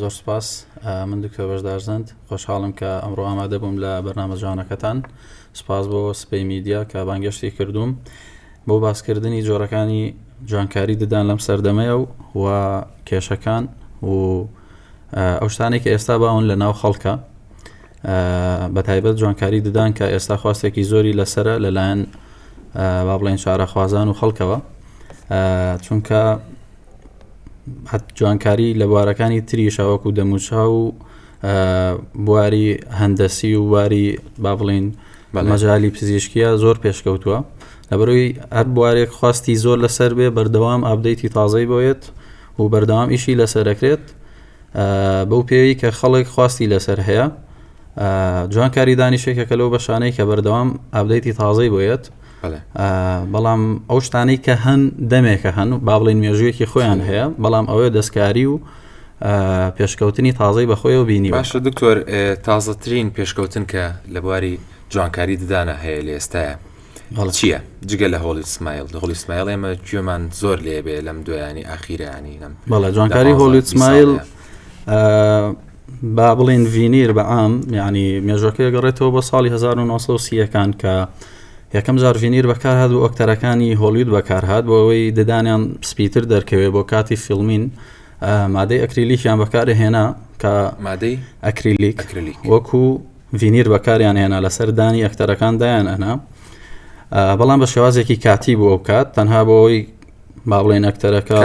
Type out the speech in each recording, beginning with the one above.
زۆر سوپاس من دکتۆر بەشدار زەند خۆشحاڵم کە ئەمڕۆ ئامادە بووم لە بەرنامە جوانەکەتان سپاس بۆ سپی میدیا کە بانگەشتی کردووم بۆ باسکردنی جۆرەکانی جوانکاری ددان لەم سەردەمەیە و و کێشەکان و ئەو شتانێک کە ئێستا باون لە ناو خەڵکە بە تایبەت جوانکاری ددان کە ئێستا خواستێکی زۆری لەسرە لەلایەن با بڵێن شارەخوازان و خەڵکەوە چونکە جوانکاری لە بوارەکانی تریشا وەکو دەموچا و بواری هەندەسی و بواری با بڵین مەجای پزیشکیە زۆر پێشکەوتووە لەبەرەوەی هەر بوارێک خواستی زۆر لەسەر بێ بەردەوام ئابدەیتی تازەی بۆیت و بەردەوام ئیشی لەسەرەکرێت بەو پێوی کە خەڵک خواستی لەسەر هەیە جوانکاری دانیشێکەکە لەو بەشانەی کە بەردەوام ئابدەیتی تازەی بۆیت بەڵام ئەو شتانەی کە هەن دەمێکە هەن و با بڵێن مێژوویەکی خۆیان هەیە بەڵام ئەوەیە دەستکاری و پێشکەوتنی تازەی بەخۆی و بینی باشە دکتۆر تازەترین پێشکەوتن کە لە بواری جوانکاری ددانە هەیە لە ئێستاە چییە جگە لە هۆڵی سمایل هۆڵی سمایل ئێمە گوێمان زۆر لێبێ لەم دویانی ئاخیرانی لەم بەڵە جوانکاری هۆڵی سمایل با بڵین ڤینیر بە عام ینی مێژۆکە گەڕێتەوە بە ساڵی 1930ەکان کە یەکەم جار ڤینیر بەکارهات و ئۆکتەرەکانی هۆلیود بەکارهات بۆ ئەوەی ددانیان پسپیتر دەرکەوێت بۆ کاتی فیلمین مادەی ئەکریلیکیان بەکارە هێنا کە مادەی ئەکریلیک وەکو ڤینیر بەکاریان هێنا لەسەر دانی ئەکتەرەکان دایان ئەنا بەڵام بە شێوازێکی کاتی بۆ ئەو کات تەنها بۆ ئەوی باڵێن ئەکتەرەکە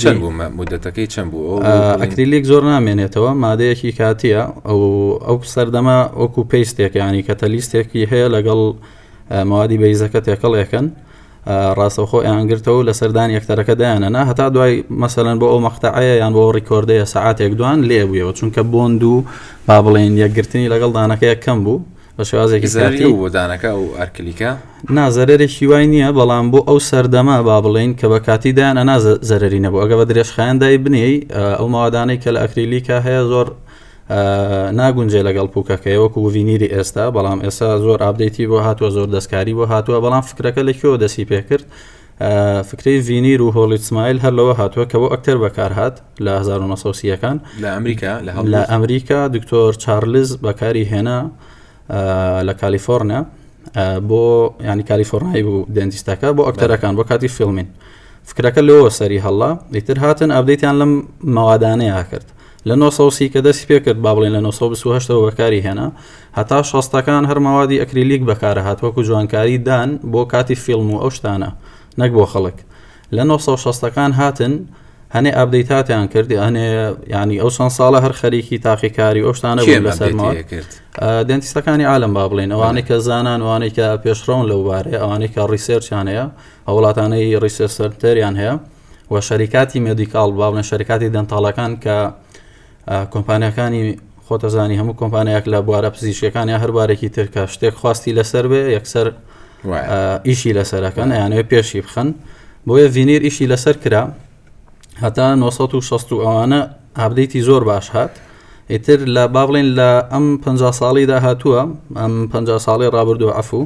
چەند بوو مدەتەکەی چەند بوو ئەکریلیک زۆر نامێنێتەوە مادەیەکی کاتیە ئەو ئەو سەردەما ئۆکو پێستێک ینی کە تەلیستێکی هەیە لەگەڵ موادی بەیزەکە تێکەڵێکن ڕاستەخۆ ئەیانگرتەوە لە سەردان یەکتەرەکە دایانەنا هەتا دوای مەسەەن بۆ ئەو مەختەعەیە یان بۆ ڕیکۆردەیە سعاتێک دوان لێبوویەوە چونکە بۆند و با بڵێن یەکگرتنی لەگەڵ دانەکەیە کەم بوو بە شێوازێکی زیاتری زەرەری بۆ دانەکە ئەو ئەرکلیکە نازەرێکی وای نییە بەڵام بۆ ئەو سەردەمە با بڵێین کە بە کاتی دایان ئەنا زە- زەرەری نەبوو ئەگە بە درێژخایەندای بنێی ئە، ئەو ماوادانەی کە لە ئەکریلیکە هەیە زۆر ئە، ناگونجێ لەگەڵ پوکەکەی وەکو وڤینیری ئێستا بەڵام ئێستا زۆر ئابدەیتی بۆ هاتووە زۆر دەستکاری بۆ هاتووە بەڵام فکرەکە لە کوێوە دەستی پێکرد فکرەی ڤینیر و هۆڵیت سمایل هەر لەوە هاتووە کە بۆ ئەکتەر بەکارهات لە 1970ەکان لە ئەمریکا لە ئەمریکا دکتۆر چارلز بەکاری هێنا لە کالیفۆرنیا بۆ ینی کالیفۆرنای بوو دەنجستەکە بۆ ئەکتەرەکان بۆ کاتی فیلمین فکرەکە لەوە سەری هەڵا ئیتر هاتن ئابدەیتیان لەم مەوادانەیە کرد لە نۆ سەد و سی کە دەستی پێکرد با بڵێین لە نۆ سەد و بیست و هەشت ەوە بەکاری هێنا هەتا شەستەکان هەر مەوادی ئەکریلیک بەکارەهات وەکو جوانکاری دان بۆ کاتی فیلم و ئەو شتانە نەک بۆ خەڵک لە نۆ سەد و شەست ەکان هاتن هەنێ ئابدەیتاتیان کرد هەنێ ینی ئەو چەند ساڵە هەر خەریکی تاقیکاری ئەو شتانە بوون لەسەرمەوە کرد دێنتیستەکانی عالم با بڵێن ئەوانەی کە زانان وانەی کە پێشڕەون لەو بارەیە ئەوانەی کە ڕیسێرچیان هەیە ئەو وڵاتانەی ڕیسێر سەرتەریان هەیە و شەریکاتی مدیکال با بڵێن شەرکاتی دەنتاڵەکان کە کۆمپانیەکانی خۆتەزانی هەموو کۆمپانیاک لە بوارە پزیشکەکان یا هەربارێکی ترکە شتێک خواستی لەسەر بێ یەکسەر ئیشی لەسەرەکەن یانەوە پێشی بخەن بۆیە ڤینیر ئیشی لەسەر کرا هەتا 1960 ئەوانە ئابدەیتی زۆر باش هات ئیتر لە با بڵێن لە ئەم پ ساڵیدا هاتووە ئەم پ ساڵی ڕابردوو عفو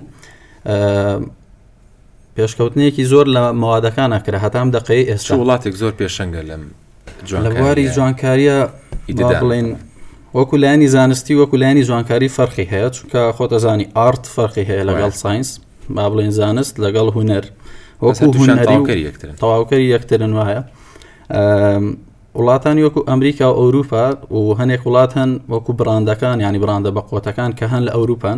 پێشکەوتنێکی زۆر لە مەوادەکانە کرا هەتام دەقەی ئێستا وڵاتێک زۆر پێشەنگە لەم جوانکاری جوانکاریە بڵین وەکو لایانی زانستی وەکو لایانی جوانکاری فەرقی هەیە چونکە خۆتەزانی ئارت فەرقی هەیە لەگەڵ ساینس با بڵین زانست لەگەڵ هوەر وەکو هوەری تەواوکەری یەکترن وایە وڵاتانی وەکو ئەمریکا و ئەوروپا و هەنێک وڵات هەن وەکو براندەکان ینی براندە بە قوتەکان کە هەن لە ئەوروپان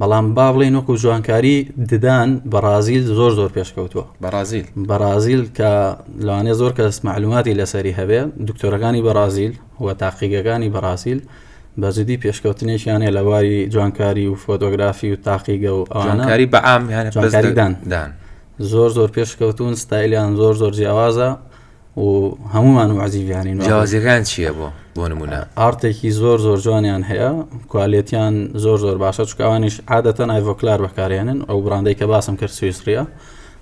بەڵام با بڵێن وەکو جوانکاری ددان بەڕازیل زۆر زۆر پێشکەوتووە بەڕازیل بەڕازیل کە لەوانێ زۆر کەس معلوماتی لەسەری هەبێ دکتۆرەکانی بەڕازیل و تاقیگەکانی بەڕازیل بەجددی پێشکەوتنێکیان هەیە لە باری جوانکاری و فۆتۆگرافی و تاقیگە و ئەوانکاری بەعامیانکاریدان زۆر زۆر پێشکەوتون ستایلیان زۆر زۆر جیاوازە و هەمومان و عزیزیانین جیازەکان چییە بۆ بۆ نمونە ئارتێکی زۆر زۆر جوانیان هەیە کوالێتیان زۆر زۆر باشە چکوانیش عادەتە نایڤۆکلار بەکارێنن ئەو براندەی کە باسم کرد سویسریە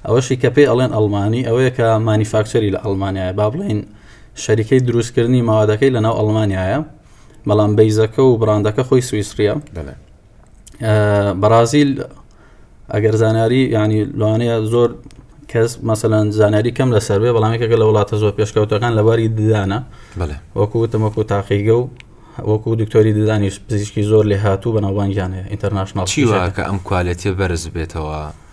ئەوەشی کە پێی ئەڵێن ئەلمانی ئەوەیە کە مانیفاکچەری لە ئەلمانایە با بڵین شەریکەی دروستکردنی ماوادەکەی لەناو ئەلمانایە بەڵام بیزەکە و براندەکە خۆی سویسریە بەرازیل ئەگەر زانیاری ینی لەوانەیە زۆر کەس مەسەەن زانیاری کەم لەسەر بێ بەڵامێکەکە لە وڵاتە زۆر پێشکەوتەکان لەباری ددانە وەکو تەمەکو تاقیگە و وەکو دکتۆری ددانی پزیشکی زۆر لێ هاتوو بەناوبانگیان هەیە ئینتەرناشنال چیواکە ئەم کوالەتێ بەرز بێتەوە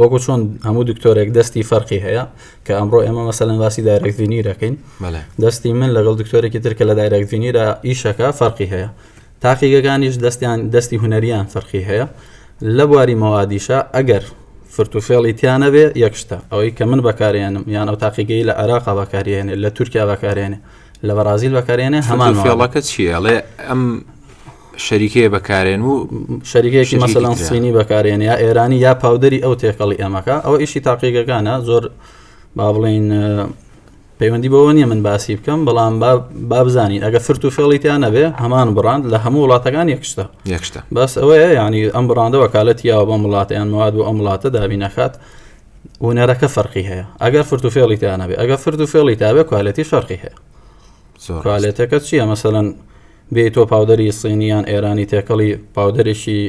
وەکو چۆن هەموو دکتۆرێک دەستی فەرقی هەیە کە ئەمڕۆ ئێمە مەسەلەن باسی دایرەکتینی دەکەین دەستی من لەگەڵ دکتۆرێکی ترکە لە دایرەکتینیرا ئیشەکە فەرقی هەیە تاقیگەکانیش دەستیان دەستی هوەریان فەرقی هەیە لە بواری مەوادیشە ئەگەر فرتوفێڵی تیانەبێ یەکشتە ئەوەی کە من بەکارێنم یان ئەو تاقیگەی لە عراقا بەکارێنێ لە تورکیا بەکارێنێ لە بەرازیل بەکارێنێ هەمان فێڵەکە چیەڵێ ئەم شەریکەیە بەکارێن و شەریکەیەکی مەسەلەن سینی بەکارێن یا ئێرانی یا پاودەری ئەو تێکەڵی ئەمەکە ئەوە ئیشی تاقیگەکانە زۆر با بڵین پەیوەندی بەوە نیە من باسی بکەم بەڵام بابزانین ئەگە فرت و فێڵیتیان نەبێ هەمان بڕاند لە هەموو وڵاتەکان یەکشتە یەکشتە بەس ئەوەیە ینی ئەم بڕاندە وەکالەتی یاوە بەم وڵاتیان مواد بۆ ئەم وڵاتە دابی نەکات ونەرەکە فەرقی هەیە ئەگەر فرت و فێڵیتیانە بێ ئەگە فرت و فێڵی تاوێ کوالەتی فەرقی هەیە کوالێتەکە چییە مەسەەن بێی تۆ پاودەری سینی یان ئێرانی تێکەڵی پاودەرێکی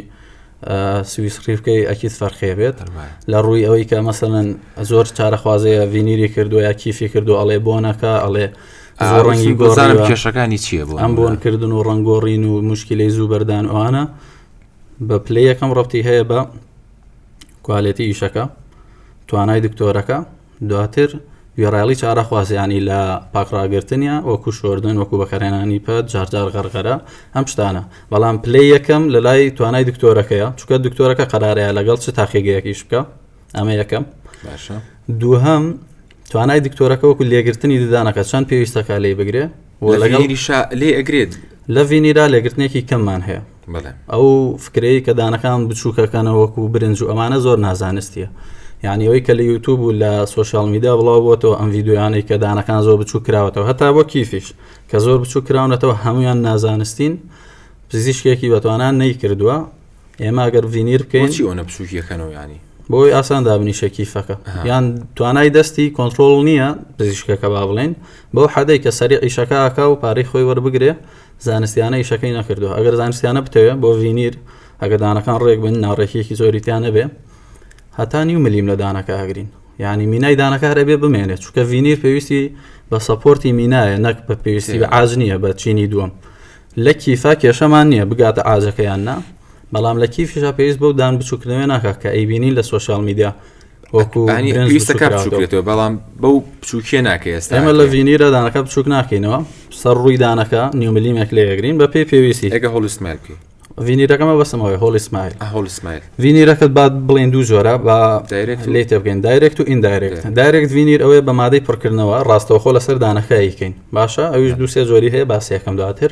سویس ڕیفکەی ئەکییت فەرخێ بێت لە ڕووی ئەوەی کە مەسەن زۆر چارەخوازەیە ڤینیری کردو یا کیفی کردو ئەڵێ بۆنەکە ئەڵێ ڕەنگی گۆزانم کێشەکانی چییە بۆ ئەم بۆنکردن و ڕنگۆڕین و مشکلی زوو بەردان ئەوانە بە پلی یەکەم ڕەتی هەیە بە کوالێتی ئیشەکە توانای دکتۆرەکە دواتر گوێڕایەڵی چارەخوازیانی لە پاک ڕاگرتن یا وەکو شۆردن وەکو بەکارهێنانی پەت جارجار غەرغەرە ئەم شتانە بەڵام پلەی یەکەم لە لای توانای دکتۆرەکەیە چکە دکتۆرەکە قەرارەیە لەگەڵ چ تاقیگەیەکیش بکە ئەمە یەکەم باشە دووهم توانای دکتۆرەکە وەکو لێگرتنی ددانەکە چەند پێویستەکە لێ بگرێ لەگەڵ لێ ئەگرێت لە ڤینیرا لێگرتنێکی کەممان هەیە بەڵێ. ئەو فکرەی کە دانەکان بچووکەکەنە وەکو برنج و ئەمانە زۆر نازانستیە یعنی ئەوەی کە لە یوتوب و لە سوۆشال میدا بڵاو بۆتەوە ئەم یددیویانەی کە دانەکان زۆر بچوو کراوەتەوە هەتا بۆ کیفیش کە زۆر بچوو کراونەتەوە هەمویان نازانستین پزیشکێکی بەتوانان نەیکردووە ئێمە گەر ڤینیر بکەین چی ئەوە بچووکیەکەنەوە ینی بۆی ئاسان دابنیشە کیفەکە یان توانای دەستی کۆنتترۆل نییە پزیشکەکە با بڵێن بەو حەدەی کە سەری عیشەکەکە و پارەی خۆی وەربگرێ زانستیانە ئیشەکەی نەکردوە ئەگەر زانستیانە بتەوێت بۆ ڤینیر ئەگە دانەکان ڕێک بن ناڕێکیەکی زۆریتیان نەبێ هەتا نیو ملیم لە دانەکە ئاگرین ینی مینای دانەکارە بێ بمێنێت چکە ڤینیر پێویستی بە سەپۆرتی مینایە نەک بە پێویستی بە ئاج نییە بە چینی دووەم لە کیفا کێشەمان نییە بگاتە ئاجەکەیان نا بەڵام لە کیفیشا پێویست بەو دان بچووکردنەوە ناکە کە ئەیبینین لە سوۆسیال میدیا وەکوویستە کار بچووکێتەوە بەڵام بەو بچووکێ ناکە ئێستا ئەمە لە ڤینی رەدانەکە بچووک ناکەینەوە سەر ڕووی دانەکە نیوملیمێک لێگرین بە پێی پێویستی ئەگە هۆڵستمال بکەین ڤینیرەکەمە بەسمەوەی هۆڵی سمایل هۆڵی سمایل ڤینیرەکەت بعد بڵێن دوو جۆرە بە لێ تێبگەین دایرێکت و ئیندایرێکت دایرێکت ڤینیر ئەوەیە بە مادەی پڕکردنەوە ڕاستەوخۆ لەسەر دانەکەیکەین باشە ئەویش دووسێ جۆری هەیە باسیەکەم دواتر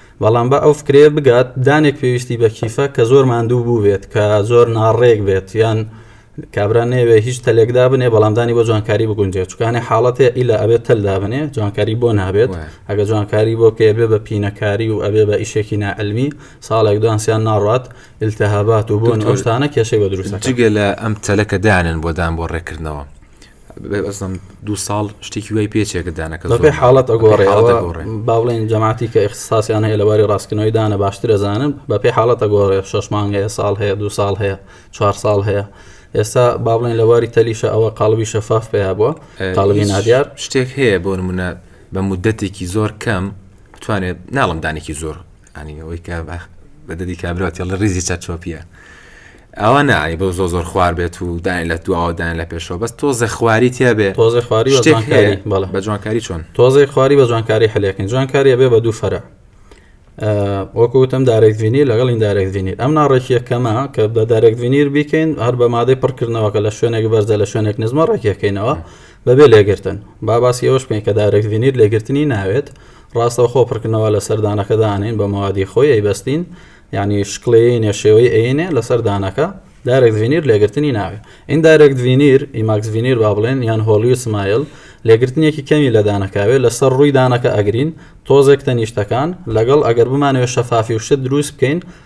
بەڵام با ئەو فکرەیە بگات دانێک پێویستی بە کیفە کە زۆر ماندوو بوو بێت کە زۆر ناڕێک بێت یان کابرا نەوێ هیچ تەلێک دابنێ بەڵام دانی بۆ جوانکاری بگونجێت چکانێ حاڵەتێ ئیلا ئەبێت تەل دابنێ جوانکاری بۆ نابێت ئەگە جوانکاری بۆ کە بێ بە پینەکاری و ئەبێ بە ئیشێکی نائەلمی ساڵێک دوانسیان ناڕات التهابات و بۆن ئەوشتانە کێشەی بە دروستەکە جگە لە ئەم تەلەکە دانن بۆ دان بۆ ڕێکردنەوە ئەزم دوو ساڵ شتێکی وای پێچێکە دانەکە بەپێ حاڵەت ئەگۆڕێ باڵێن جەماتی کە ئەخساسیان هەیە لەواری ڕاستکردنەوەی دانە باشتر ئەزانن بەپێ حاڵەت ئەگۆڕێ شش مانگ هەیە ساڵ هەیە دو ساڵ هەیە چوار ساڵ هەیە ئێستا باڵێن لەواری تەلیشە ئەوە قالبی شەفاف پێیا بووە قالبی نادیار شتێک هەیە بۆ منە بە مدەتێکی زۆر کەم بتوانێت ناڵم دانێکی زۆر ئەنی ئەوەی کە بە بەدەدی کابرا تێڵە ریزی چەرچۆپیە ئەوە نانی بۆ زۆ زۆر خوار بێت و داین لە دواوەدان لە پێشەوە بەس تۆزە خواری تیا بێ تۆزی خواری بە شتێک جوانکاری هەیە بەڵێ بە جوانکاری چۆن تۆزی خواری بە جوانکاری حلەکەین جوانکاری بێ بە دوو فەرع وەکوتم دارێک بینیر لەگەڵ این دارێک بینیر ئەم ناڕێکیە کەمە کە بە دارێک بینیر بیکەین هەر بە مادەی پڕکردنەوە کە لە شوێنێک بەرزە لە شوێنێک نزمە ڕێکەکەینەوە بەبێ لێگرتن با باسی ئەوش بکەین کە دارێک بینیر لێگرتنی ناوێت ڕاستەوخۆ پڕکردنەوە لە سەر دانەکە دانین بە مەوادی خۆی ئەیبەستین یعنی شکلێنێ شێوەی ئەینێ لەسەر دانەکە دارێک ڤینیر لێگرتنی ناوێ ئین دارێک ڤینیر ئیماکس ڤینیر با بڵێن یان هۆلیو سمایل لێگرتنێکی کەمی لە دانەکاوێ لەسەر ڕووی دانەکە ئەگرین تۆزێک تەنیشتەکان لەگەڵ ئەگەر بمانەوە شەفافی و شت دروست بکەین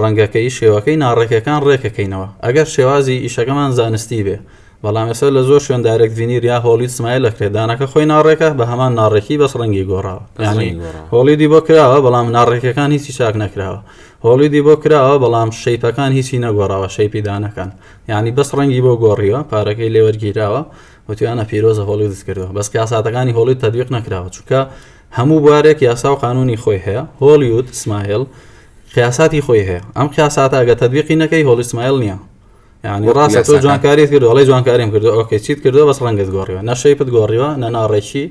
ڕەنگە کە ی شێوەکەی ناڕێکەکان ڕێکەکەینەوە ئەگەر شێوازی ئیشەکەمان زانستی بێ بەڵام ئێستا لە زۆر شوێن دایرەکت ڤینیر یا هۆڵید سمایل ئەکرێ دانەکە خۆی ناڕێکە بە هەمان ناڕێکی بەس ڕەنگی گۆڕاوە یانی هۆڵیدی بۆ کراوە بەڵام ناڕێکەکان هیچی چاک نەکراوە هۆڵیدی بۆ کراوە بەڵام شەیپەکان هیچی نەگۆڕاوە شەیپی دانەکان یانی بەس ڕەنگی بۆ گۆڕیوە پارەکەی لێوەرگیراوە وتویانە پیرۆزە هۆڵیدت کردەوە بەس کاساتەکانی هۆڵید تەدویق نەکراوە چونکە هەموو بوارێک یاسا و قانونی خۆی هەیە هۆلیود سمایل قیاساتی خۆی هەیە ئەم قیاساتە ئەگە تدبیقی نەکەی هۆلی سمایل نییە یعنی ڕاستە تۆ جوانکاریت کرد ئەڵی جوانکاریم کردو ئۆکەی چیت کردو بەس ڕەنگت گۆڕیوە نەشەیپت گۆڕیوە نە ناڕێکی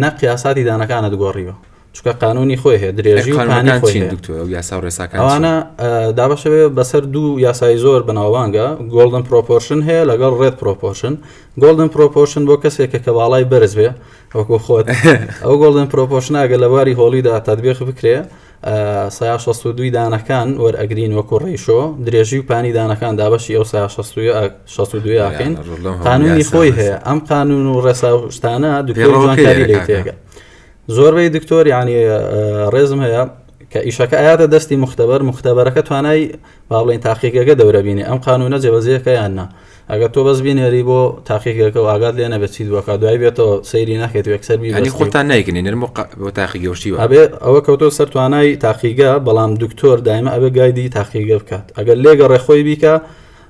نە قیاساتی دانەکانت گۆڕیوە چکە قانونی خۆی هەیە درێژی پانی خۆی دکتۆر یاسا ڕێساکانوانە دابشەوێ بەسەر دوو یاسای زۆر بەناوانگە گۆڵدن پرۆپۆرشن هەیە لەگەڵ ڕێت پرۆپۆشن گۆڵدن پرۆپۆشن بۆ کەسێک کە کەواڵای بەرز بێ وەکو خۆت ئەو گۆڵدن پرۆپۆشناگە لە باری هۆڵیدا تادبێخ بکرێ سا 62 دانەکان وەرئەگرین وەکو ڕیشۆ درێژی و پانی دانەکان دابەشی ئەو سا 62 یاکەین قانونی خۆی هەیە ئەم قانون و ڕێسا و شتانە دوکاری لێ تێگە زۆربەی دکتۆر ینی ڕێزم هەیە کە ئیشەکە ئااتە دەستی مختبەر مختبەرەکە توانای باڵێن تاقیگەگە دەورەبینی ئەم قانونە جێبەزیەکە یاننا ئەگەر تۆ بەس بینێری بۆ تاقیگەکە و ئاگات لێ نەبێت چیت بۆکە دوای بێتەوە سەیری ناکەیت و یەکسەر بیبەستی یانی خۆتان نایکنی نرم و قە- بۆ تاقی گەوشی و ئەبێ ئەوە کەوتۆ سەر توانای تاقیگە بەڵام دکتۆر دایمە ئەبێ گایدی تاقیگە بکات ئەگەر لێگەڕێ خۆی بیکە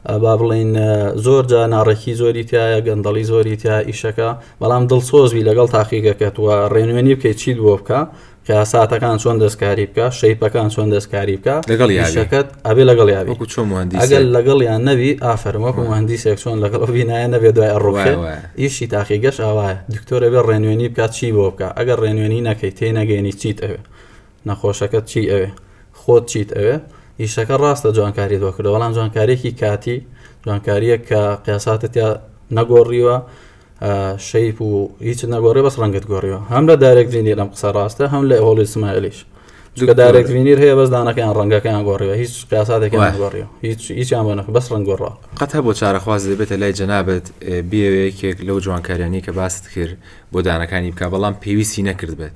ئە، با بڵین ئە، زۆر جا ناڕێکی زۆری تایە گەندەڵی زۆری تیا ئیشەکە بەڵام دڵسۆز بی لەگەڵ تاقیگەکەت و ڕێنوێنی بکەیت چیت بۆ بکە کارەساتەکان چۆن دەستکاری بکە شەیپەکان چۆن دەستکاری بکە لەگەڵ یاریشەکەت ئەبێ لەگەڵ یاوی وەکو چۆن مهندی ئەگەر لەگەڵ یان نەوی ئافرم وەکو مهندیسێک چۆن لەگەڵ بینایە نەبێ دوای ئەڕۆێ ئیشی تاقی گەش ئاوایە دکتۆرە بێ ڕێنوێنی بکات چی بۆ بکە ئەگەر ڕێنوێنی نەکەی تێ نەگەێنی چیت ئەوێ نەخۆشەکەت چی ئەوێ خۆت چیت ئەوێ ئیشەکە ڕاستە جوانکاری دۆکردە بەڵام جوانکارێکی کاتی جوانکاریە کە قیاساتە تیا نەگۆڕیوە شەیپ و هیچ نەگۆڕێ بەس ڕەنگت گۆڕیەوە هەم لە دارێک بینی لەم قسە ڕاستە هەم لە هۆڵی سمایلیش لە دارێک بینیر هەیە بەس دانەکەیان ڕەنگەکەیان گۆڕیەوە هیچ قیاساتێکیان گۆڕیەوە هیچ هیچیان بۆ نەخ بەس ڕنگ گۆڕا قەت هەبوو چارەخواز دەبێتە لای جەنابەت بێوەیەکێک لەو جوانکاریانی کە باست کرد بۆ دانەکانی بکە بەڵام پێویستی نەکردبێت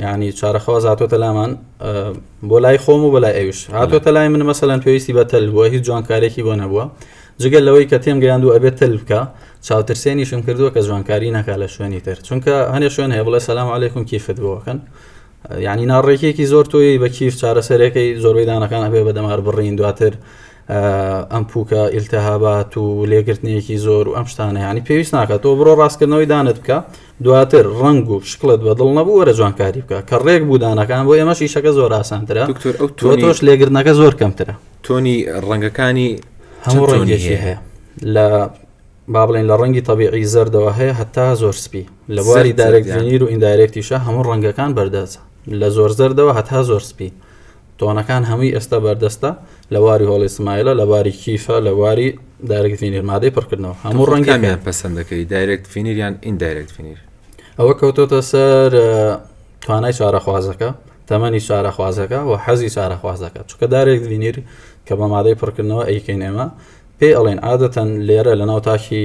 یعنی چارەخواز هاتۆتە لامان بۆ لای خۆم و بەلای ئەوش هاتۆتە لای من مەسەلەن پێویستی بە تەل بووە هیچ جوانکارێکی بۆ نەبووە جگەل لەوەی کە تێم گەیاند و ئەبێت تەل بکە چاوترسێنیشم کردووە کە جوانکاری ناکا لە شوێنی تر چونکە هەنێ شوێن هەیە بڵێ سەسلام عیکم کیفت بۆکەن یعنی ناڕێکێکی زۆر تۆی بە کیف چارەسەرەکەی زۆربەی دانەکان هەبێ بە دەمار بڕین دواتر ئەم پوکە ئیلتهابات و لێگرتنێکی زۆر و ئەم شتانە ینی پێویست ناکات تۆ بڕۆ ڕاستکردنەوەی دانت بکە دواتر ڕنگ و شکلت بە دڵ نەبوو وەرە جوانکاری بکە کە ڕێک بوودانەکان بۆ ئێمە شیشەکە زۆر ئاسانترە دکتۆر ئەو تۆ تۆش لێگرنەکە زۆر کەمترە تۆنی ڕەنگەکانی هەموو ڕەنگێکی هەیە لە با بڵێن لە ڕەنگی تەبیعی زەردەوە هەیە هەتا زۆر سپی لە بواری دارێکزانیر و ئیندارێکتیشە هەموو ڕەنگەکان بەردەچە لە زۆر زەردەوە هەتا زۆر سپی تۆنەکان هەمووی ئێستا بەردەستە لە واری هۆڵی سمایلە لە واری کیفە لە واری دایرکت فینیر مادەی پڕکردنەوە هەموو ڕەنگەکەیان پسندەکەی دایرکت فینیر یان ئین دایرکت فینیر ئەوە کەوتۆتە سەر توانای چارەخوازەکە تەمەنی چارەخوازەکە و حەزی چارەخوازەکە چکە دارێک دینیر کە بە مادەی پڕکردنەوە ئەیکەین ئێمە پێ ئەڵێن عادەتەن لێرە لە ناو تاکی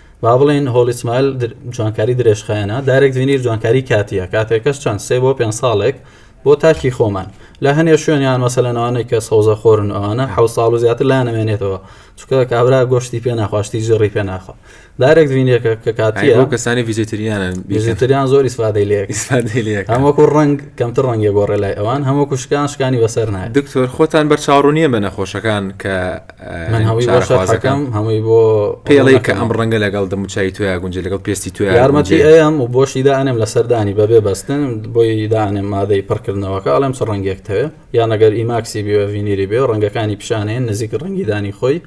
با بڵێین هۆڵی سمایل جوانکاری درێژخایەنە دارێک زینیر جوانکاری کاتیە کاتێکەش چەند سێ بۆ پێ ساڵێک بۆ تاکی خۆمان لە هەنێ شوێنیان مەسەلەنەوانەی کە سەوزە خۆرن ئەوانە حو ساڵ و زیاتر لا نەمێنێتەوە چکە کابرا گۆشتی پێ ناخواشتی جڕی پێ ناخۆ دارێک دوینێکە کە کاتی ئەو کەسانی ویزیتریانە ویزیتریان زۆر ئیسفادەی لێک هەموەکو ڕنگ کەمتر ڕەنگە گۆڕێ لای ئەوان هەموو کوشکان شکانی بەسەر نایە دکتۆر خۆتان بەرچاوڕونیە بە نەخۆشەکان کە من هەمووی بۆ شەرحەکەم هەمووی بۆ پێڵی کە ئەم ڕەنگە لەگەڵ دەموچای تویا گونجێ لەگەڵ پێستی تو یارمەتی ئەم و بۆشی دانێم لە سەردانی بەبێ بەستن بۆی دانێم مادەی پڕکردنەوەکە ئەڵێم چ ڕەنگێک تەوێ یان ئەگەر ئیماکسی بێ ڤینیری بێ ڕەنگەکانی پیشانەیەن نزیک ڕەنگی دانی خۆی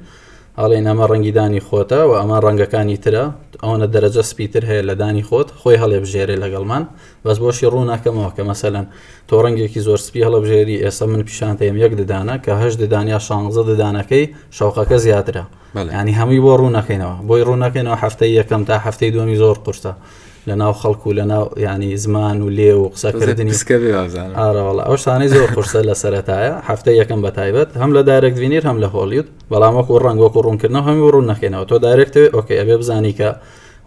ئەڵێن ئەمە ڕەنگی دانی خۆتە و ئەمە ڕەنگەکانی ترە ئەوەنە دەرەجە سپیتر هەیە لە دانی خۆت خۆی هەڵێ بژێرێ لەگەڵمان بەس بۆشی ڕوو ناکەمەوە کە مەسەلەن تۆ ڕەنگێکی زۆر سپی هەڵەبژێری ئێستا من پیشانتەیەم یەک ددانە کە هەش ددان یا شانزە ددانەکەی شەوقەکە زیاترە ینی هەمووی بۆ ڕوو نەکەینەوە بۆی ڕوو نەکەینەوە هەفتەی یەکەم تا هەفتەی دومی زۆر قورسە لە ناو خەڵک و لە ناو ینی زمان و لێ و قسەکردنی ئاراوەڵ ئەو شانەی زۆر قورسە لە سەرەتایە هەفتە یەکەم بە تایبەت هەم لە دارێک بینیر هەم لە هۆلیوت بەڵام وەکو ڕنگ وەکو ڕوونکردنەوە هەمی ڕوون نەکەینەوە تۆ دارێکتەوەی ئۆکەی ئەبێ بزانی کە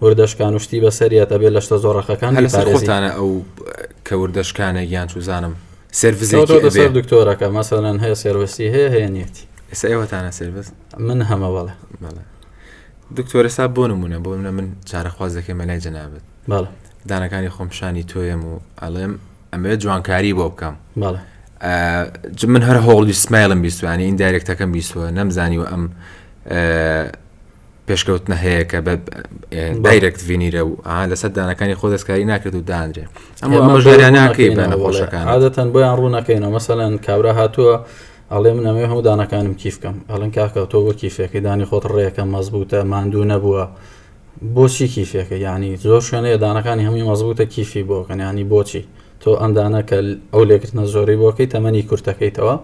وردە شکان و شتی بەسەر یەت ئەبێ لە شتە زۆڕەقەکان هەر لەسەر بیپارێزی خۆتانە ئەو کە وردە شکانێک یان چوزانم کەوتۆتە سێرڤزێکی سەر ئەبێ دکتۆرەکە مەسەلەن هەیە سێرڤسی هەیە هەیە نیەتی ئێستا ئێوەتانە سێرڤس من هەمە بەڵێ بەڵێ دکتۆر ئێستا بۆ نمونە بۆ منە من چارەخواز دەکەم لای جەنابەت بەڵێ دانەکانی خۆم پیشانی تۆیم و ئەڵێم ئەمەوێت جوانکاری بۆ بکەم بەڵێ ئا، ج- من هەر هەوڵی سمایلم بیستوانی این دایرکتەکەم بیستوە نەمزانی و ئەم ئا، پێشکەوتنە هەیە کە بە دایرەکت ڤینیرە و لەسەر دانەکانی خۆ دەستکاری ناکرێت و دانرێ ئەمە ئەمەژاریا ناکەی بە نەخۆشەکان عادەتەن بۆیان ڕوونەکەینەوە مەسەەن کابرا هاتووە ئەڵێ من ئەمێ هەموو دانەکانم کیفکەم ئەڵەن کاکە تۆ وە کیفەکەی دانی خۆت ڕێەکە مەزبووتە ماندوو نەبووە بۆچی کیفەکە ینی زۆر شوێنەیە دانەکانی هەمووی مەزبووتە کیفی بۆکەن ینی بۆچی تۆ ئەم دانە کە ئەو لێکردنە زۆرەی بۆ کەی تەمەنی کورتەکەیتەوە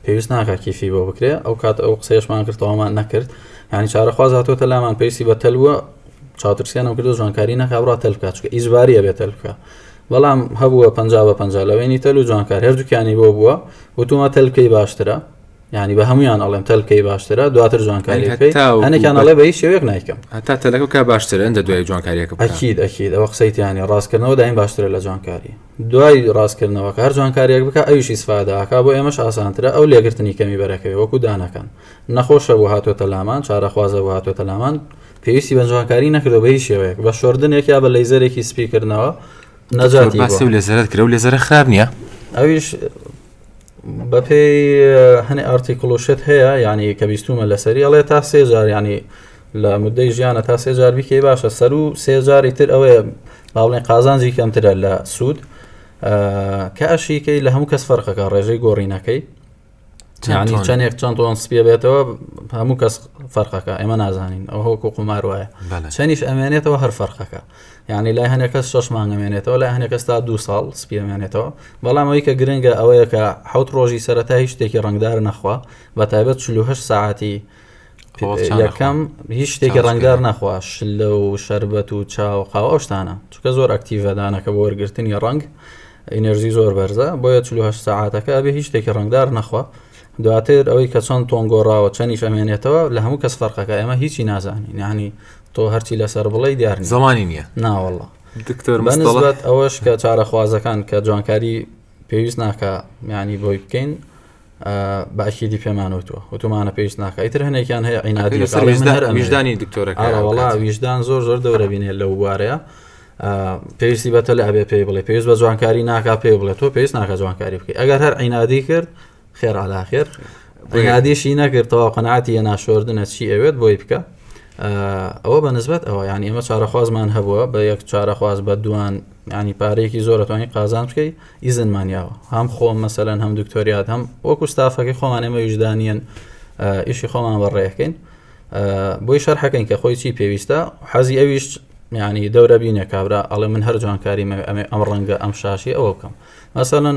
پێویست ناکە کیفی بۆ بکرێ ئەو کات ئەو قسەیەشمان کردەوەمان نەکرد ینی چارەخواز هاتۆتە لامان پێویستی بە تەلووە چاوترسیانم کردو جوانکاری نەکە بڕا تەل بکە چکە ئیجباریە بێت تەل بکە بەڵام هەبووە پ بە پ لەوێنی تەل و جوانکار هەردووکیانی بۆ بووە وتومە تەلکەی باشترە ینی بە هەمویان ئەڵێم تەلکەی باشترە دواتر جوانکاریەکەیانێکیان ئەڵێ بە هیچ شێوێک نایکەم هەتا تەلەکە کا باشتر ئەندە دوای جوانکاریەکە ئەکیید ئەکیید ئەوە قسەیتیانی ڕاستکردنەوە دایم باشترە لە جوانکاری دوای ڕاستکردنەوە کار جوانکاریەک بکە ئەویشی سفاداکە بۆ ئێمەش ئاسانترە ئەو لێگرتنی کەمی بەرەکەی وەکو دانەکەن نەخۆشە بۆ هاتوێتە لامان چارەخوازە بۆ هاتوێتە لامان پێویستی بە جوانکاری نەکردو بە هیچ شێوەیەک بە شۆردنێک یا بە لەیزەرێکی سپیکردنەوە نەجاتی لەزرت کرە و لەزرە خراپ نییە ئەویش بەپێی هەنێ ئارتیکلوشت هەیە ینی کە بیستومە لەسەری ئەڵێ تا سێ جار ینی لە مدەی ژیانە تا سێ جار بیکەی باشە سەر و سێ جاری تر ئەوەیە باڵێن قازانجی کەمترە لە سوود کە ئەشیکەی لە هەموو کەس فەرقەکە ڕێژەی گۆڕینەکەی چانی چەندێک چەند تۆن سپێ بێتەوە هەموو کەس فەرقەکە ئێمە نازانین ئەو هۆکو قومار وایە چەنیش ئەمێنێتەوە هەر فەرقەکە یانی لای هەنێ کەس شەش مانگ ئەمێنێتەوە لای هەنێ کەس تا دوو ساڵ سپی ئەمێنێتەوە بەڵام ئەوەی کە گرنگە ئەوەیە کە حوت ڕۆژی سەرەتا هیچ شتێکی ڕنگدار نەخوا بە تایبەت 48 ساعتی یەکەم هیچ شتێکی ڕنگدار نەخوا شلە و شربەت و چاو قاو ئەو شتانە چکە زۆر ئەکتیڤدانەکە بۆ وەرگرتنی ڕنگ ئینەرژی زۆر بەرزە بۆیە 48 ساعتەکە بێ هیچ شتێکی ڕنگدار نەخوا دواتر ئەوەی کە چەند تۆن گۆڕاوە چەنیش ئەمێنێتەوە لە هەموو کەس فەرقەکە ئێمە هیچی نازانین یعنی تۆ هەرچی لەسەر بڵێ دیار زمانی نییە ناوەڵە دکتۆر مەنزڵەت ئەوەش کە چارەخوازەکان کە جوانکاری پێویست ناکە میانی بۆی بکەین باشیدی پێمانوتوە وتومانە پێویست ناکە ئیتر هەنێکیان هەیە عینادی ویژدانی دکتۆرەکەڵا ویژدان زۆر زۆر دەورەبینێ لەو بوارەیە پێویستی بەتە لە ئەبێ پێی بڵێ پێویست بە جوانکاری ناکا پێ بڵێ تۆ پێویست ناکە جوانکاری بکەی ئەگەر هەر عینادی کرد خێر عەلا خێر بنیادیشی نەکرد تەواو قەناعەتی یە ناشۆردنە چی ئەوێت بۆی بکە ئەوە بە نسبەت ئەوە یعنی ئێمە چارەخوازمان هەبووە بە یەک چارەخواز بە دوان ینی پارەیەکی زۆرەتوانی قازان بکەی ئیزنمان یاوە هەم خۆم مەسەەن هەم دکتۆریات هەم وەکو ستافەکەی خۆمان ئێمە ویژدانیان ئیشی خۆمان بەڕێەکەین بۆی شەرحەکەین کە خۆی چی پێویستە حەزی ئەویش ینی دەورە بینە کابرا ئەڵێ من هەر جوانکاری ئەمە ئەم ڕەنگە ئەم شاشی ئەوە بکەم مەسەەن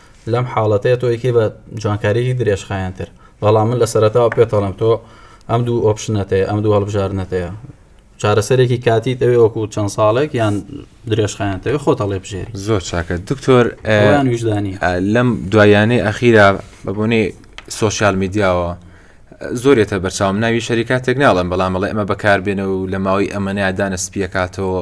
لەم حاڵەتەیا تۆ ئەیکەی بە جوانکاریی درێژخایەنتر. بەڵام من لە سەرەتاوە پێت ئەڵێم تۆ ئەم دوو ئۆپشنەت هەیە، ئەم دوو هەڵبژاردنەت هەیە. چارەسەرێکی کاتیت ئەوێ وەکوو چەند ساڵێک یان درێژخایەنت ئەوێ خۆت هەڵێبژێری. زۆر چاکە دکتۆر ئەویان ویژدانییە. ئا لەم دواییانەی ئەخیرا بە بۆنەی سۆشیال میدیاوە زۆر یەتە بەرچاوم، ناوی شەریکاتێک ناڵێم، بەڵام ئەڵێ ئەمە بەکاربێنە و لە ماوەی ئەمەنەیا دانە سپییەکاتەوە.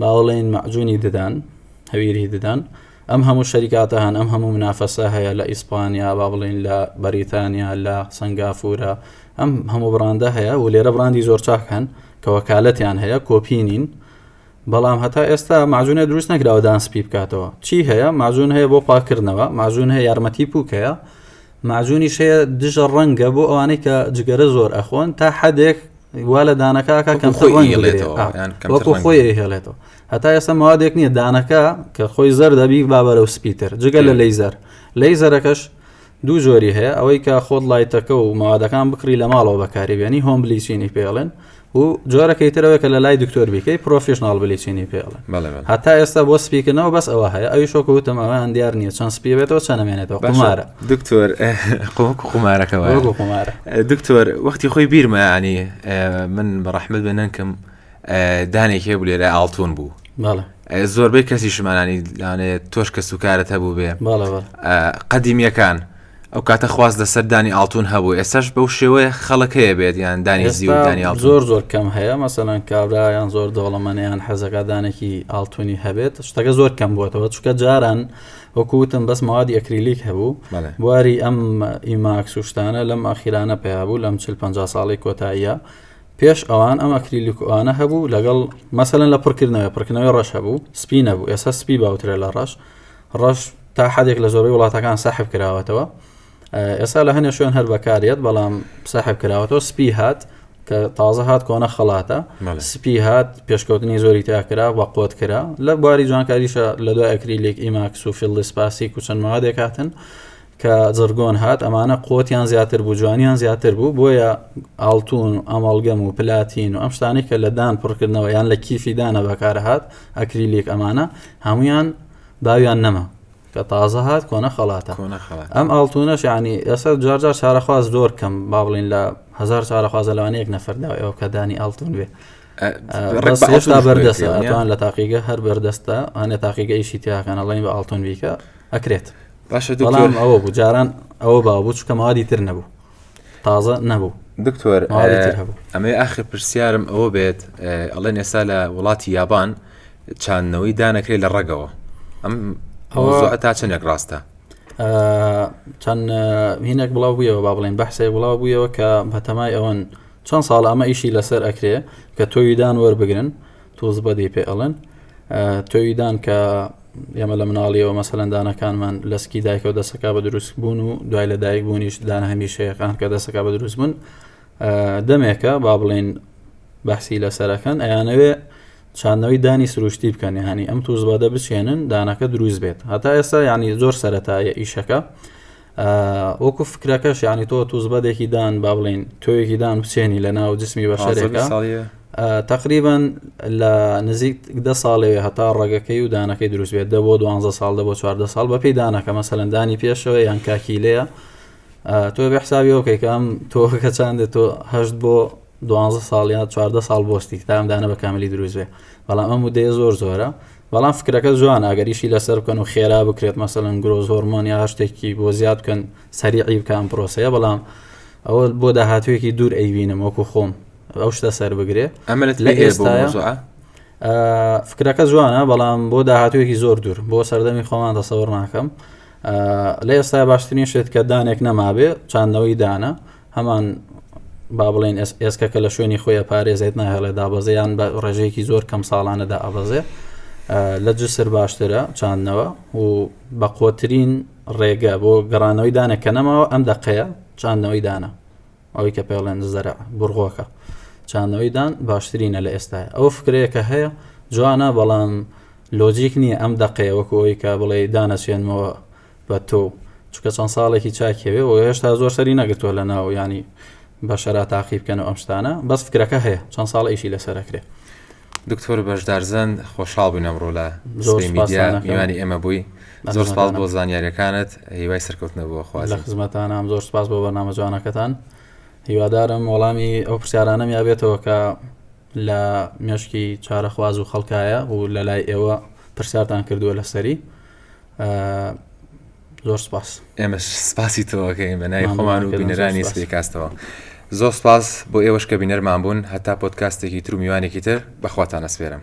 باوەڵێن مەعجونی ددان هەویری ددان ئەم هەموو شەریکاتە هەن ئەم هەموو منافەسە هەیە لە ئیسپانیا با بڵین لە بەریتانیا لە سنگافورە ئەم هەموو بڕاندە هەیە و لێرە بڕاندی زۆر چاک هەن کە وەکالەتیان هەیە کۆپینین بەڵام هەتا ئێستا ماجونە دروست نەکراوە دان سپی بکاتەوە چی هەیە ماجون هەیە بۆ پاکردنەوە ماجون هەیە یارمەتی پوکەیە ماجونی شەیە دژە ڕەنگە بۆ ئەوانەی کە جگەرە زۆر ئەخۆن تا حدێک وا لە دانەکە کە کەمتر ڕەنگڵێتەوە وەکو خۆی هێڵێتەوە هەتا ئێستا موادێک نییە دانەکە کە خۆی زەر دەبی بابەرە و سپیتر جگە لە لەیزەر لەیزەرەکەش دوو جۆری هەیە ئەوەی کە خۆت لایتەکە و موادەکان بکڕی لە ماڵەوە بەکاری بێنی هۆم بلیچینی پێڵێن و جۆرەکەی ترەوە کە لە لای دکتۆر بیکەی پرۆفیشنناڵ بلیچینی پێڵێن هەتا ئێستا بۆ سپیکردنەوە بەس ئەوە هەیە ئەوی شۆک وتم ئەویان دیار نییە چەند سپیبێتەوە چەنەمێنێتەوە قمارە دکتۆر قۆک قمارەکەەوە قمارە دکتۆر وەختی خۆی بیرمە یانی من بە ڕەحمت بە نەنکم دانێک هەیە بوو لێرە ئاڵتون بوو زۆربەی کەسی شمانانی دانێت تۆش کە سوکارت هەبوو بێ قەدیمیەکان ئەو کاتە خواست لەسەر دانی ئاڵتون هەبوو ئێسش بەو شێوەیە خەڵک هەیە بێت یان دانی زیودانی زۆر زۆر کەم هەیە مەسەەن کابرایان زۆر دەوڵەمەنیان حەزەکە دانێکی ئاڵتونی هەبێت شتەکە زۆر کەم بووەتەوە چکە جاران وەکو وتم بەس مەوادی ئەکریلیک هەبوو بەڵێ. بواری ئەم ئیماکس و شتانە لەم ئاخیرانە پەیا بوو لەم چل پەنجا ساڵەی کۆتاییە پێش ئەوان ئەم ئەکریلیک و ئەوانە هەبوو لەگەڵ مەسەلەن لە پڕکردنەوەی پڕکردنەوەی ڕەش هەبوو سپی نەبوو ئێستا سپی باوترە لە ڕەش ڕەش تا حدێک لە زۆربەی وڵاتەکان سەحب کراوەتەوە ئێستا لە هەنێ شوێن هەر بەکارێت بەڵام ساحب کراوەەوە سپی هات کە تازە هات کۆنە خەڵاتە سپی هات پێشکەوتنی زۆری تاکرا بە قوت کرا لە بواری جوانکاریشە لە دوای ئەکری لێک ئیماکس و فیلدی سپاسی کوچەند مادێک هاتن کە زرگۆن هات ئەمانە قوتیان زیاتر بوو جوانیان زیاتر بوو بۆیە ئاڵتون و ئەمەڵگەم و پلاتین و ئەم شتانی کە لە دان پڕکردنەوە یان لە کیفی دانە بەکارهات ئەکریلیک ئەمانە هەمویان باویان نەما کە تازە هات کۆنە خەڵاتە کۆنە خەڵات ئەم ئاڵتونەش ینی ئێستا جار جار چارەخواز زۆر کەم با بڵین لە هزار چارەخوازە لەوانەیەک نەفردا ئەو کە دانی ئاڵتون بێ ڕێستا بەردەستوان لە تاقیگە هەر بەردەستە هەنێ تاقیگە ئیشی تیاکەن ئەڵین بە ئاڵتون بیکە ئەکرێت باشە دوڵام ئەوە بوو جاران ئەوە باوە بچکە مادی تر نەبوو تازە نەبوو دکتۆر ئەمەی ئاخر پرسیارم ئەوە بێت ئەڵێن ئێستا لە وڵاتی یابان چاندنەوەی دانەکرێت لە ڕەگەوە ئەم ئەوە تا چەندێک ڕاستە چەند هینێک بڵاو بوویەوە با بڵێن بەحسێک بڵاو بوویەوە کە بەتەمای ئەوەن چەند ساڵ ئەمە ئیشی لەسەر ئەکرێ کە تۆویدان وەربگرن توز بەدی پێ ئەڵێن تۆوی دان کە ئێمە لە مناڵیەوە مەسەلەن دانەکانمان لەسکی دایکەوە دەسەکە بە دروست بوون و دوای لە دایک بوونیش دان هەمیشەیەکان کە دەسەکە بە دروست بوون دەمێکە با بڵێن بەحسی لەسەرەکەن ئەیانەوێ چاندنەوەی دانی سروشتی بکەن هەنی ئەم توزبادە بچێنن دانەکە دروست بێت هەتا ئێستا ینی زۆر سەتایە ئیشەکە وەکو فکرەکەش یعنی تۆ توزبەدێکی دان با بڵین تۆیەکی دان بچێنی لە ناو جسمی بەشەرێکە تقریبان لە نزیک دە ساڵەوێ هەتا ڕێگەکەی و دانەکەی دروست بێت دە بۆ دوانزە ساڵ دە بۆ چواردە ساڵ بەپی دانەکە مەسەلەندانی پێشەوە یان کاکیلەیە تۆ بێ حسابی ئەوکەیکەم تۆکە چاندێت تۆ هەشت بۆ دوانزە ساڵ یا چواردە ساڵ بۆستی تام دانە بە کاملی دروست بێ بەڵام ئەم ودەیە زۆر زۆرە بەڵام فکرەکە جوانە ئەگەریشی لەسەر بکەن و خێرا بکرێت مەسەن گرۆز هۆرمۆن یا شتێکی بۆ زیاد بکەن سەریعی بکەم پرۆسەیە بەڵام ئەوە بۆ داهاتوێکی دوور ئەیبینم وەکو خۆم ئەو شتە سەر بگرێ ئەمە لە ئێستاە فکرەکە جوانە بەڵام بۆ داهاتوێکی زۆر دوور بۆ سەردەمی خۆمان دەسەوەڕ ناکەم لە ئێستا باشترین شێت کە دانێک نەمابێ چاندنەوەی دانە هەمان با بڵێن ئێسکە کە لە شوێنی خۆی پارێزێت ناهێڵێ دابەزیان بە ڕێژەیەکی زۆر کەم ساڵانەدا ئابەزێ لە جسر باشترە چاندنەوە و بەقۆترین ڕێگە بۆ گەڕانەوەی دانە کە نەماوە ئەم دەقەیە چاندنەوەی دانە ئەوەی کە پێڵێن زەرە بڕغۆکە چاندنەوەی دان باشترینە لە ئێستای ئەو فکرەیە کە هەیە جوانە بەڵام لۆجیک نییە ئەم دەقەیە وەکۆی کە بڵێ دانەچێنمەوە بە تۆ چکە چەند ساڵێکی چاکەوێ و هێشتا زۆر سەری نەگرتووە لە ناو ینی بە شەرا تاقی بکەن و ئەم شتانە بەس فکرەکە هەیە چەند ساڵ ئیشی لەسەرەکرێ دکتۆر بەشدارزن خۆشحاڵ بووین ئەمڕۆ لە زۆر میدیا میوانی ئێمە بووی زۆر سپاس بۆ زانیاریەکانت هیوای سەرکەوتنە بۆ خواز خزمەتانام زۆر سپاس بۆ بەنامە جوانەکەتان هیوادارم وەڵامی ئەو پرسیارانم یابێتەوە کە لە مێشکی چارەخواز و خەڵکایە و لە لای ئێوە پرسیارتان کردووە لەسەری زۆر سپاس ئێمەش سپاسی تۆەکەین بە نای خۆمان و بینەرانی سپیکاستەوە زۆر سپاس بۆ ئێوەش کە بینەرمان بوون هەتا پۆتکاستێکی تر و میوانێکی تر بەخواتانە سپێرم